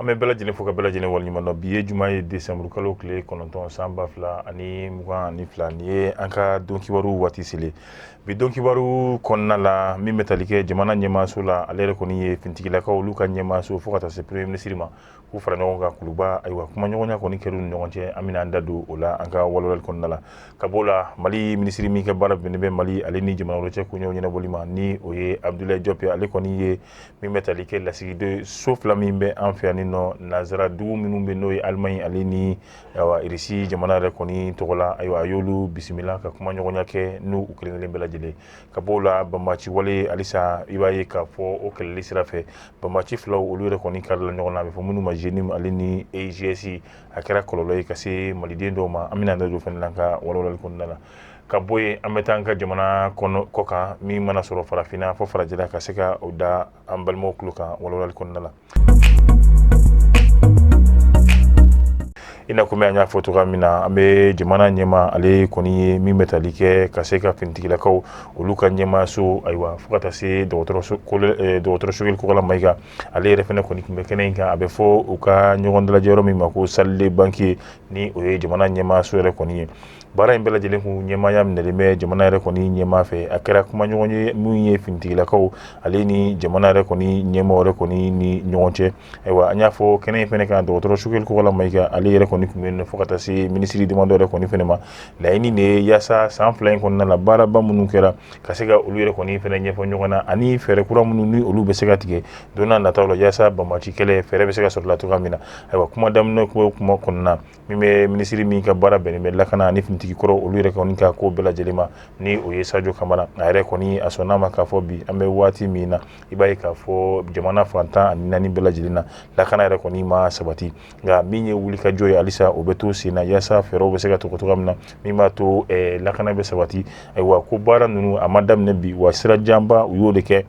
an bɛ bɛɛ lajɛlen fo ka bɛɛ lajɛlen waleɲuman dɔn bi ye juma ye desanburu kalo tile kɔnɔntɔn san ba fila ani mugan ani fila nin ye an ka don kibaru waati selen bi don kibaru kɔnɔna la min bɛ tali kɛ jamana ɲɛmaaso la ale yɛrɛ kɔni ye finitigilakaw olu ka ɲɛmaaso fo ka taa se premier ministre ma k'u fara ɲɔgɔn kan kuluba ayiwa kumaɲɔgɔnya kɔni kɛra u ni ɲɔgɔn cɛ an bɛna an da don o la an ka walawalali kɔnɔna la ka b'o la mali minisiri min ka baara bɛnnen bɛ mali ale ni jamana wɛrɛw cɛ koɲɛw ɲɛnabɔli ma ni o ye abudulayi jɔpu ale kɔni ye min bɛ tali kɛ lasigidenso fila min bɛ an fɛ yan ni nɔ nansara dugu minnu bɛ n'o ye alimaɲi ale ni irisi jamana yɛrɛ kɔni tɔgɔ la ayiwa a y'olu bisimila ka kumaɲɔgɔnya kɛ n'u kelenkelen bɛɛ lajɛlen ka b'o la banbaci wale halisa i b'a ye k'a fɔ o kɛlɛli sira fɛ banbaci filaw olu yɛrɛ kɔni karila ɲɔgɔn na a bɛ fɔ minnu ma JNIM ale ni EIGS a kɛra kɔlɔlɔ ye ka se maliden dɔw ma an bɛna da don o fana na an ka walawalali kɔnɔna la ka bɔ yen an bɛ taa an ka jamana kɔkan min mana sɔrɔ farafinna fo farajɛla ka se ka o da an balimaw tulo kan walawalali kɔnɔna la i n'a komi an y'a fɔ cogoya min na an bɛ jamana ɲɛmaa ale kɔni ye min bɛ tali kɛ ka se ka finitigilakaw olu ka ɲɛmaaso ayiwa fo ka taa se dɔgɔtɔrɔ sogɛli kokala mayiga ale yɛrɛ fana kɔni tun bɛ kɛnɛ in kan a bɛ fɔ u ka ɲɔgɔn dalajɛ yɔrɔ min ma ko salle banquet ni o ye jamana ɲɛmaaso yɛrɛ kɔni ye baara in bɛɛ lajɛlen kun ɲɛmaaya minɛlen bɛ jamana yɛrɛ kɔni ɲɛmaa fɛ a kɛra kumaɲɔgɔnya min ye finitigilakaw ale ni jamana yɛrɛ kɔni ɲɛmaa yɛrɛ kɔni ni ɲɔgɔn cɛ ayiwa an y'a fɔ kɛnɛ in fana kan dɔgɔtɔrɔ sogɛli kokala mayiga ale yɛrɛ kɔni tun bɛ yen fo ka taa se minisiri damadɔ yɛrɛ kɔni fana ma laɲini de ye yaasa san fila in kɔnɔna la baaraba minnu kɛra ka se ka olu yɛrɛ kɔni fana ɲɛfɔ ɲɔgɔn na ani fɛɛrɛ kura minnu ni olu bɛ se ka tigɛ don nataw la yaasa banbaci kɛlɛ fɛɛrɛ bɛ se ka sɔrɔ la cogoya min na ayiwa kuma daminɛ kuma kɔnɔna min bɛ minisiri min ka baara bɛnnen bɛ lakana ani finitigi kɔrɔ olu yɛrɛ kɔni ka ko bɛɛ lajɛlen ma ni o ye sajo kamara a yɛrɛ kɔni a sɔnna a ma k'a fɔ bi an bɛ waati min na i b'a ye k'a fɔ jamana fan tan ani naani bɛɛ lajɛlen na lakana yɛrɛ kɔni ma sabati nka min ye wuli ka jɔ ye halisa o bɛ to sen na yaasa fɛɛrɛw bɛ se ka tigɛ cogoya min na min b'a to lakana bɛ sabati ayiwa ko baara ninnu a ma daminɛ bi wa sira janba u y'o de kɛ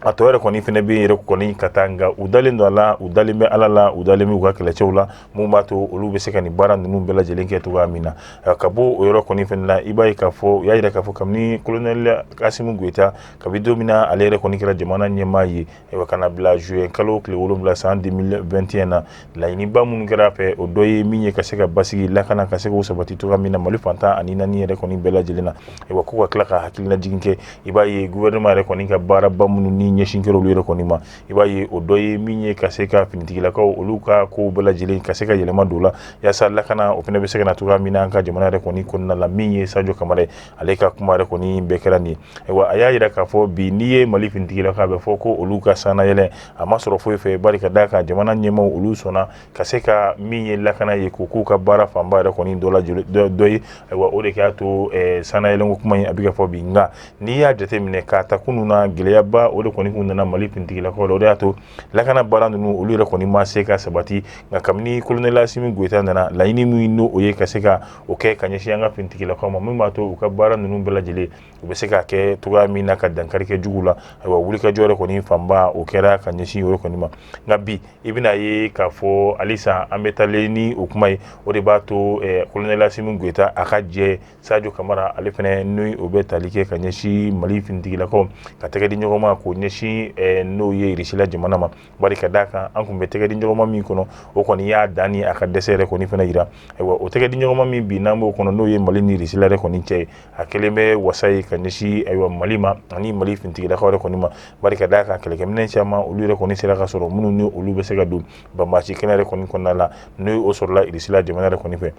a tɔ yɛrɛ kɔni fana bɛ yɛrɛ kɔni ka taa nka u dalen don a la u dalen bɛ ala la u dalen bɛ u ka kɛlɛcɛw la min b'a to olu bɛ se ka nin baara ninnu bɛɛ lajɛlen kɛ cogoya min na ka bɔ o yɔrɔ kɔni fana na i b'a ye k'a fɔ u y'a jira k'a fɔ kabini kolonɛli asimi goyita kabi don min na ale yɛrɛ kɔni kɛra jamana ɲɛmaa ye ayiwa ka na bila zuwɛn kalo tile wolonwula san 2021 na laɲiniba minnu kɛra a fɛ o dɔ ye min ye ka se ka basigi lakana ka se k'o sabati cogoya min na mali fan tan ani naani yɛrɛ kɔni bɛɛ lajɛlen na wa ko ka tila ka hakililajigin kɛ i b'a ye gouvernement yɛrɛ kɔni ka baaraba minnu ni ɲɛsin kɛra olu yɛrɛ kɔni ma i b'a ye o dɔ ye min ye ka se ka finitigilakaw olu ka kow bɛɛ lajɛlen ka se ka yɛlɛma don la yaasa lakana o fana bɛ se ka na cogoya min na an ka jamana yɛrɛ kɔni kɔnɔna la min ye sajo kamara ye ale ka kuma yɛrɛ kɔni bɛɛ kɛra nin ye ayiwa a y'a jira k'a fɔ bi n'i ye mali finitigilakaw bɛ fɔ ko olu ka sannayɛlɛn a ma sɔrɔ foyi fɛ bari ka d'a kan jamana ɲɛmaaw olu sɔnna ka se ka min ye lakana ye k'o k'u ka baara fanba yɛrɛ kɔni dɔ ye ayiwa o de y'a to sannayɛlɛn kuma in a bɛ ka fɔ bi nka n'i y'a jate minɛ k'a ta kunun na gɛlɛyaba o de kɔni kun nana mali finitigilakaw la o de y'a to lakana baara ninnu olu yɛrɛ kɔni ma se ka sabati nka kabini kolonɛl asimi goyita nana laɲini min n' o ye ka se ka o kɛ ka ɲɛsin an ka finitigilakaw ma min b'a to u ka baara ninnu bɛɛ lajɛlen u bɛ se ka kɛ cogoya min na ka dankari kɛ jugu la ayiwa wulikajɔ yɛrɛ kɔni fanba o kɛra ka ɲɛsin yɔrɔ kɔni ma nka bi i bɛna ye k'a fɔ halisa an bɛ taalen ni o kuma ye o de b'a to kolonɛl asimi goyita a ka jɛ sajo kamara ale fana n' o bɛ tali kɛ ka ɲɛsin mali finitigilakaw ka tɛgɛ di ɲɔgɔn ma k'o ɲɛsin n'o ye irisila jamana ma bari ka d'a kan an tun bɛ tɛgɛ di ɲɔgɔnma min kɔnɔ o kɔni y'a dan ni a ka dɛsɛ yɛrɛ kɔni fana jira ayiwa o tɛgɛ di ɲɔgɔnma min bi n'an b'o kɔnɔ n'o ye mali ni irisila yɛrɛ kɔni cɛ ye a kɛlen bɛ wasa ye ka ɲɛsin ayiwa mali ma ani mali fintigilakaw yɛrɛ kɔni ma bari ka d'a kan kɛlɛkɛminɛn caman olu yɛrɛ kɔni sera ka sɔrɔ minnu ni olu bɛ se ka don banbaanci kɛlɛ yɛrɛ kɔni kɔnɔna la ni o sɔrɔla irisila jamana yɛrɛ kɔni fɛ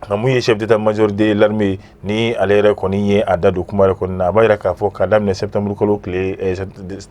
nka min ye chef d'état major de l'armée ni ale yɛrɛ kɔni ye a da don kuma yɛrɛ kɔni na a b'a yira k'a fɔ ka daminɛ septembre kalo tile eh,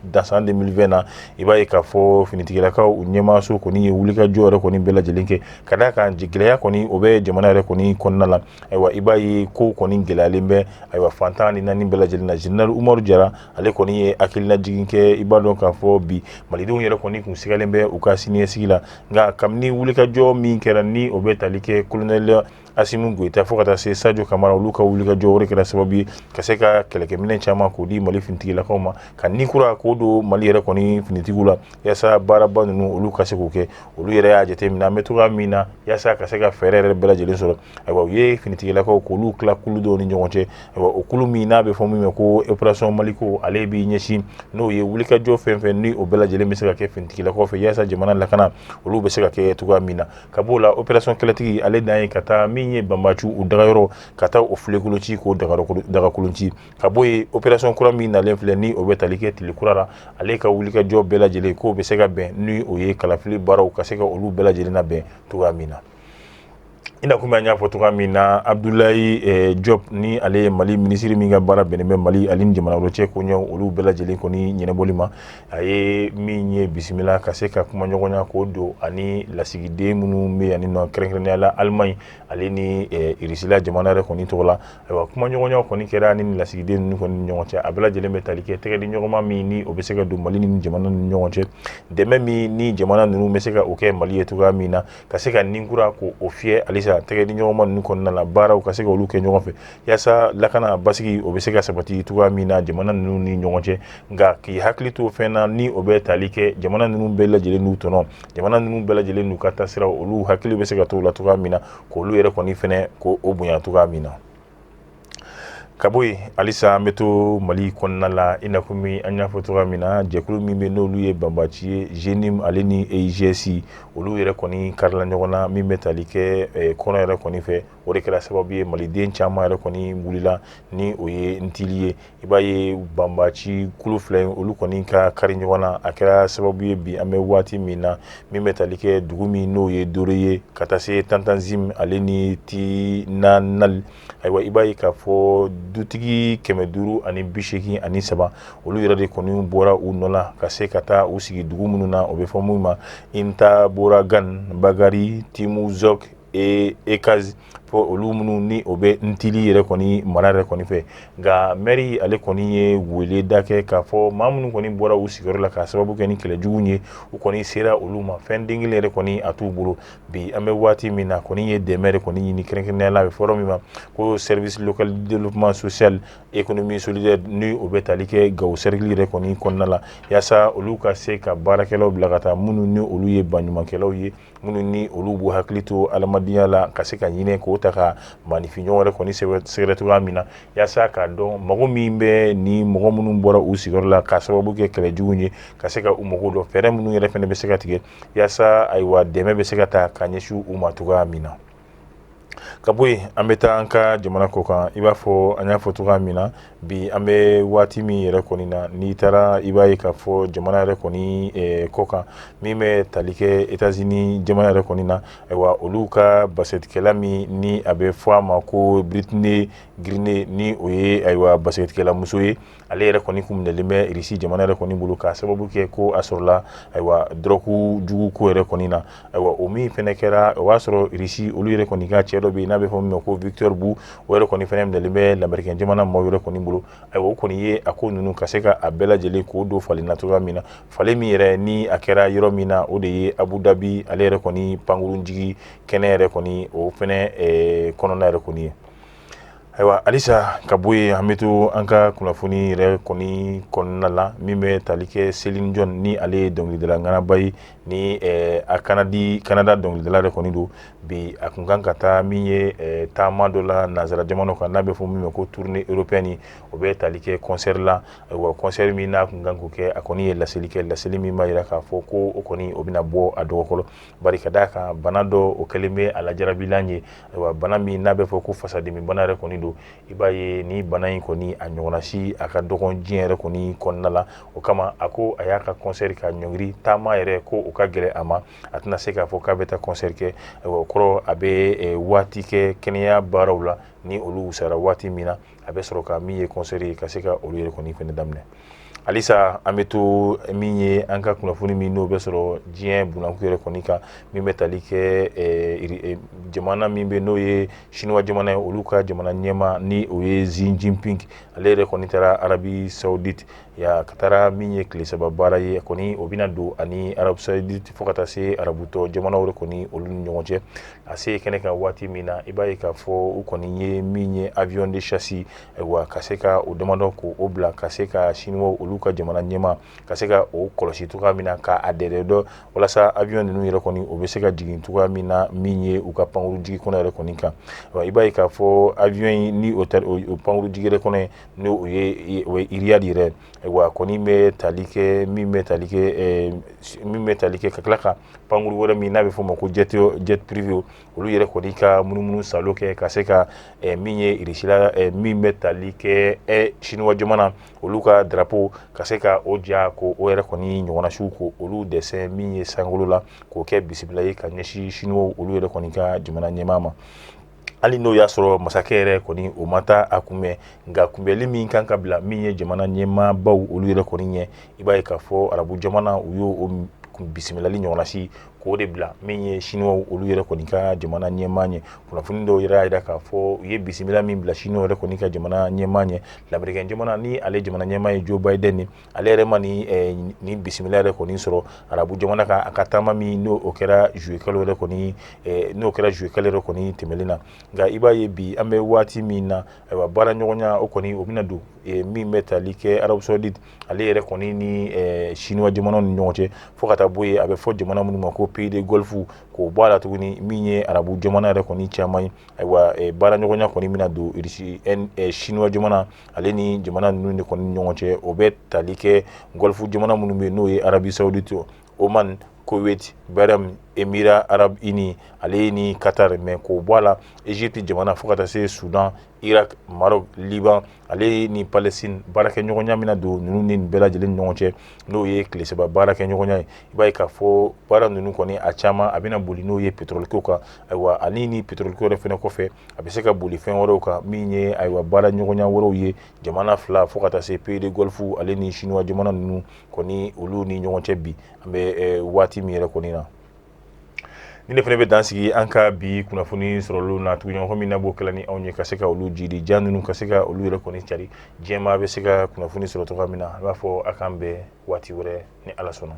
da san 2020 na i b'a ye k'a fɔ finitigilakaw u ɲɛmaaso kɔni ye wulikajɔ yɛrɛ kɔni bɛɛ lajɛlen kɛ ka d'a kan gɛlɛya kɔni o bɛ jamana yɛrɛ kɔni kɔnɔna la ayiwa i b'a ye ko kɔni gɛlɛyalen bɛ ayiwa fan tan ni naani bɛɛ lajɛlen na general umaru jara ale kɔni ye hakilina jigin kɛ i b'a dɔn k'a fɔ bi malidenw yɛrɛ kɔni kun sigalen bɛ u ka siniɲɛsigi la nka kabini wulikajɔ min kɛra ni o bɛ tali kɛ kolonɛl asimi goyita fo ka taa se sajo kamara olu ka wulikajɔ o de kɛra sababu ye ka se ka kɛlɛkɛminɛ caman k'o di mali finitigilakaw ma ka ni kura k'o don mali yɛrɛ kɔni finitigiw la yaasa baaraba ninnu olu ka se k'o kɛ olu yɛrɛ y'a jate minɛ an bɛ togoya min na yaasa ka se ka fɛɛrɛ yɛrɛ bɛɛ lajɛlen sɔrɔ ayiwa u ye finitigilakaw k'olu tila kulu dɔw ni ɲɔgɔn cɛ ayiwa o kulu min n'a bɛ fɔ min ma ko operation maliko ale b'i ɲɛsin n'o ye wulikajɔ fɛn fɛn ni o bɛɛ lajɛlen bɛ se ka kɛ finitigilakaw fɛ yaasa jamana lakana olu bɛ se ka kɛ cogoya min na ka b'o la operation kɛlɛtigi ale dan ye ka taa min ye banbaanciw u dagayɔrɔ ka taa o filenkolon ci k'o dagakolon ci ka bɔ yen operation kura min nalen filɛ ni o bɛ tali kɛ tile kura la ale ka wulikajɔ bɛɛ lajɛlen k'o bɛ se ka bɛn ni o ye kalafili baaraw ka se ka olu bɛɛ lajɛlen labɛn cogoya min na i na kɔmi an y'a fɔ cogoya min na abudulayi eh, diop ni ale ye mali minisiri min ka baara bɛnnen bɛ mali ale ni jamana wɛrɛ cɛ koɲɛw olu bɛɛ lajɛlen kɔni ɲɛnabɔli ma a ye min ye bisimila ka se ka kumaɲɔgɔnya k'o don ani lasigiden minnu bɛ yanni nɔ kɛrɛnkɛrɛnnenya la alimaɲi ale ni eh, irisila jamana yɛrɛ kɔni tɔgɔ la ayiwa kumaɲɔgɔnya kɔni kɛra ni lasigiden ninnu kɔni ni ɲɔgɔn cɛ a bɛɛ lajɛlen bɛ tali kɛ tɛgɛdiɲɔgɔnma min ni o bɛ se ka don mali ni jamana ni ɲɔgɔn cɛ dɛmɛ min ni jamana ninnu bɛ se ka o kɛ mali ye cogoya min na ka se ka nin kura ko o fiyɛ halisa tɛgɛdiɲɔgɔnma ninnu kɔnɔna na baaraw ka se ka olu kɛ ɲɔgɔn fɛ yaasa lakana basigi o bɛ se ka sabati cogoya min na jamana ninnu ni ɲɔgɔn cɛ nka k'i hakili to fɛn na ni o bɛ tali kɛ jamana ninnu bɛɛ lajɛlen n'u tɔnɔ jamana ninnu bɛɛ lajɛlen n'u ka taasira olu hakili bɛ se ka to o la cogoya min na k'olu yɛrɛ kɔni fɛnɛ ko o bonya cogoya min na ka bɔ yen halisa an bɛ to mali kɔnɔna la i na kɔmi an y'a fɔ cogoya min na jɛkulu min bɛ n'olu ye banbaci ye jnim ale ni eigs olu yɛrɛ kɔni karila ɲɔgɔn na min bɛ tali kɛ kɔrɔn yɛrɛ kɔni fɛ o de kɛra sababu ye maliden caman yɛrɛ kɔni wulila ni o ye ntili ye i b'a ye banbaci kulu fila in olu kɔni ka kari ɲɔgɔn na a kɛra sababu ye bi an bɛ waati min na min bɛ tali kɛ dugu min n'o ye dore ye ka taa se tantanzim ale ni tinanal ayiwa i b'a ye k'a fɔ dutigi kɛmɛ duuru ani bisegin ani saba olu yɛrɛ de kɔni bɔra u nɔ la ka se ka taa u sigi dugu minnu na o bɛ fɔ min ma intaboragan bagari timuzok ekaz fo olu minnu ni o bɛ ntili yɛrɛ kɔni mara yɛrɛ kɔni fɛ nka mɛri ale kɔni ye wele da kɛ k'a fɔ maa minnu kɔni bɔra u sigiyɔrɔ la ka sababu kɛ ni kɛlɛ jugu ye u kɔni sera olu ma fɛn den kelen yɛrɛ kɔni a t'u bolo bi an bɛ waati min na kɔni ye dɛmɛ yɛrɛ kɔni ɲini kɛrɛnkɛrɛnnenya la a bɛ fɔ yɔrɔ min ma ko service local développement social économie solidaire ni o bɛ tali kɛ gawo sɛrikili yɛrɛ kɔni kɔnɔna la yaasa olu ka se ka baarakɛlaw bila ka taa minnu ni olu ye baɲumankɛlaw ye minnu ni olu b'u hakili to adamadenya la ka se ka ɲinɛ k'o ta ka maanifinɲɔgɔn yɛrɛ kɔni sɛgɛrɛ cogoya min na yaasa k'a dɔn mago min bɛ ni mɔgɔ minnu bɔra u sigiyɔrɔ la ka sababu kɛ kɛlɛjugu ye ka se ka u mago dɔn fɛɛrɛ minnu yɛrɛ fɛnɛ bɛ se ka tigɛ yaasa ayiwa dɛmɛ bɛ se ka ta ka ɲɛsin u ma cogoya min na ka bɔ yen an bɛ taa an ka jamana kɔ kan i b'a fɔ an y'a fɔ cogoya min na bi an bɛ waati min yɛrɛ kɔni na n'i taara i b'a ye k'a fɔ jamana yɛrɛ kɔni kɔ kan min bɛ tali kɛ états-unis jamana yɛrɛ kɔni na ayiwa olu ka basikɛtikɛla min ni a bɛ fɔ a ma ko brittney griner ni o ye ayiwa basikɛtikɛlamuso ye ale yɛrɛ kɔni kun minɛlen bɛ irisi jamana yɛrɛ kɔni bolo k'a sababu kɛ ko a sɔrɔla ayiwa dɔrɔku jugu ko yɛrɛ kɔni na ayiwa o min fɛnɛ kɛra o b'a sɔrɔ irisi olu yɛrɛ kɔni ka cɛ dɔ bɛ n'a bɛ fɔ min ma ko victor bu o yɛrɛ kɔni fɛnɛ minɛlen bɛ lamerikɛn jamana maaw yɛrɛ kɔni bolo ayiwa o kɔni ye a ko ninnu ka se ka a bɛɛ lajɛlen k'o don falen na cogoya min na falen min yɛrɛ ni a kɛra yɔrɔ min na o de ye abu dabi ale yɛrɛ kɔni pankurun jigi kɛnɛ yɛrɛ kɔni o fɛnɛ kɔnɔna yɛrɛ kɔni ye Ayiwa halisa ka bɔ yen an bɛ to an ka kunnafoni yɛrɛ kɔni kɔnɔna la min bɛ tali kɛ Céline Dion ni ale ye dɔnkilidala ŋanaba ye ni a Kanada dɔnkilidala yɛrɛ kɔni don bi a kun kan ka taa min ye taama dɔ la nanzara jamanaw kan n'a bɛ fɔ min ma ko tournée européenne ni o bɛ tali kɛ kɔnsɛri la ayiwa kɔnsɛri min n'a kun kan k'o kɛ a kɔni ye laseli kɛ laseli min b'a jira k'a fɔ ko o kɔni o bɛna bɔ a dɔgɔkɔrɔ Bari ka d'a kan bana dɔ o kɛlen bɛ a lajarabilan ye ayiwa bana min n'a bɛ fɔ ko fasadimi bana yɛrɛ kɔni don i b'a ye ni bana in kɔni a ɲɔgɔnna si a ka dɔgɔn diɲɛ yɛrɛ kɔni kɔnɔna la o kama a ko a y'a ka concert ka ɲɔngiri taama yɛrɛ ko o ka gɛlɛn a ma a tɛna se k'a fɔ k'a bɛ taa concert kɛ ayiwa o kɔrɔ a bɛ waati kɛ kɛnɛya baaraw la ni olu wusayara waati min na a bɛ sɔrɔ ka min ye kɔnsɛri ye ka se ka olu yɛrɛ kɔni fɛnɛ daminɛ halisa an bɛ to min ye an ka kunnafoni min n'o bɛ sɔrɔ diɲɛ bunanku yɛrɛ kɔni kan min bɛ tali kɛ eh, jamana min bɛ n'o ye siniwa jamana ye olu ka jamana ɲɛmaa ni o ye Xi Jinping ale yɛrɛ kɔni taara arabi saudite ya ka taara min ye tile saba baara ye kɔni o bɛna don ani arabi saudite fo ka taa se arabu tɔ jamanaw yɛrɛ kɔni olu ni ɲɔgɔn cɛ a se kɛnɛ kan waati min na i b'a ye k'a fɔ u kɔni ye min ye avion de chasse wa ka se ka o damadɔ ko o bila ka se ka siniwaw olu ka jamana ɲɛmaa ka se ka o kɔlɔsi cogoya min na k'a dɛndɛ dɔ walasa avion ninnu yɛrɛ kɔni o bɛ se ka jigin cogoya min na min ye u ka pankuru jigi kɛnɛ yɛrɛ kɔni kan i b'a ye k'a fɔ avion ni o pankuru jigi yɛrɛ kɔnɔ ni o ye Riyad yɛrɛ ayiwa kɔni bɛ tali kɛ min bɛ tali kɛ min bɛ tali kɛ ka tila ka pankuru wɛrɛ min n'a bɛ fɔ o ma ko jet privé olu yɛrɛ kɔni ka munumunu sa kɛ ka se ka min ye sira min bɛ tali kɛ siniwa jamana olu ka drapeau ka se ka o ja ko o yɛrɛ kɔni ɲɔgɔnnasiw ko olu desɛn min ye sankolo la k'o kɛ bisimila ye ka ɲɛsin siniwa olu yɛrɛ kɔni ka jamana ɲɛmaa ma hali n'o y'a sɔrɔ masakɛ yɛrɛ kɔni o ma taa a kunbɛn nka kunbɛnli min kan ka bila min ye jamana ɲɛmaabaw olu yɛrɛ kɔni ɲɛ i b'a ye k'a fɔ arabu jamana u y'o bisimilali ɲɔgɔnnasi k'o de bila min ye siniwaw olu yɛrɛ kɔni ka jamana ɲɛmaa ɲɛ kunnafoni dɔw yɛrɛ y'a jira k'a fɔ u ye bisimila min bila siniwaw yɛrɛ kɔni ka jamana ɲɛmaa ɲɛ lamerikɛn jamana ni ale jamana ɲɛmaa ye Joe Biden ye ale yɛrɛ ma ni bisimila yɛrɛ kɔni sɔrɔ arabu jamana kan a ka taama min n'o kɛra zuluyekalo yɛrɛ kɔni n'o kɛra zuluyekalo yɛrɛ kɔni tɛmɛnen na nka i b'a ye bi an bɛ waati min na ayiwa baara ɲɔgɔnya o kɔni o bɛna don min bɛ tali kɛ arabu sawuditi ale yɛrɛ kɔni ni siniwa jamana ni ɲɔgɔn cɛ fo ka taa bɔ yen a bɛ fɔ jamana minnu ma ko peyi du gɔlifu k'o bɔ a la tuguni min ye arabu jamana yɛrɛ kɔni caman ye ayiwa baara ɲɔgɔnya kɔni bɛna don siniwa jamana ale ni jamana ninnu de kɔni ɲɔgɔn cɛ o bɛ tali kɛ gɔlifu jamana minnu bɛ n'o ye arabisawudi to o man koweti bɛm emi arabu ini ale ni katari mɛ k'o bɔ a la eziputi jamana fo ka taa se sudan iraki marɔku liban ale ni palɛsitini baarakɛɲɔgɔnya bɛna don ninnu ni bɛɛ lajɛlen ni ɲɔgɔn cɛ n'o ye tile saba baara kɛ ɲɔgɔnya ye i b'a ye k'a fɔ baara ninnu kɔni a caman a bɛna boli n'o ye petɔrɔliko kan ayiwa ani ni petɔrɔliko yɛrɛ fana kɔfɛ a bɛ se ka boli fɛn wɛrɛw kan min ye ayiwa baara ɲɔgɔnya wɛrɛw ye jamana fila fo ka taa se peyi du gɔlifu ale ni siniwa jamana ninnu kɔni olu ni ɲɔgɔn cɛ bi an bɛ waati min yɛrɛ kɔni na ni ne fana bɛ dan sigi an ka bi kunnafoni sɔrɔlu na tuguɲɔgɔn min na b'o kɛla ni anw ye ka se ka olu jidi ja ninnu ka se ka olu yɛrɛ kɔni cari diɲɛmaa bɛ se ka kunnafoni sɔrɔ cogoya min na a b'a fɔ a k'an bɛn waati wɛrɛ ni ala sɔnna